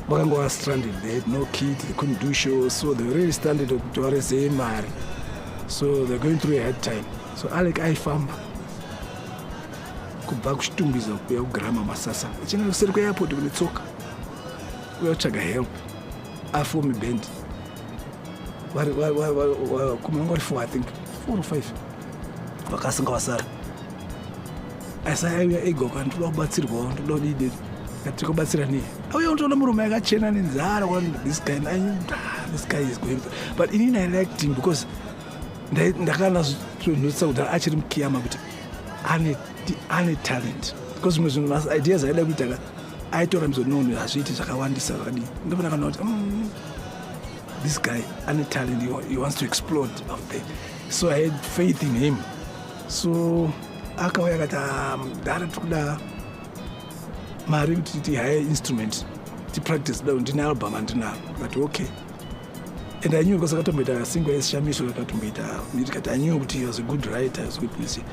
vakangova stranded there no kid they couldn't do show so they were really stranded kuti varesei mari so they're going through a hard time so alec aifamba kubva kuchitumbiza kuya kugrama masasa achienda kuseri kweairport kune tsoka uya kutsvaga help afomi band kumanga vari four i think four or five vakasinga vasara asi aiuya ega uka ndoda kubatsirwawo ndoda kudii deti tiri kubatsira nei auya unotoona murume yakachena nenzara this guy this guy is going but ini ndiliked him because ndakanazvonotsa kudhara achiri mukiyama kuti ane talent because zvimwe zvinhu maideas aida kuita ka aitora mizononi hazviiti zvakawandisa zvakadii ndopona kana kuti mm, this guy ane talent he wants to explode of the so i had faith in him so akauya akati ah, mudhara tiri kuda mari kuti tihaye instrument tipractice da ndine album andinaro akati okay and i knew because akatomboita single yesishamiso akatomboita ndikati i knew kuti he was a good writer was good music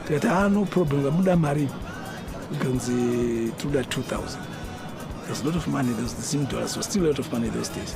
tikati ah no problem kamuda mari ikanzi tinoda 2000 there's a lot of money those the same dollars was still a lot of money those days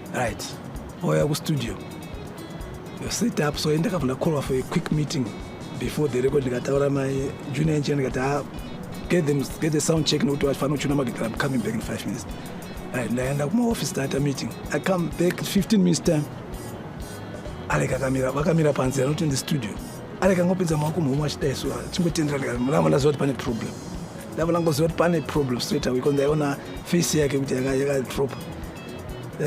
right oya kustudio yosit up so indakavona callwa for a quick meeting before the record ndikataura mai junior engineer ndikati ha ah, get them get the sound check nokuti vafana uchuna magitara i'm coming back in five minutes right ndaenda kumaoffice tata meeting i come back 15 minutes time alek akamira vakamira panze anoti in the studio alek angopinza maoko muhomwe achidaiswa chingotendera ndikati mulama ndaziva kuti pane problem ndava langoziva kuti pane problem straight away ko ndaiona face yake kuti yakadropa yaka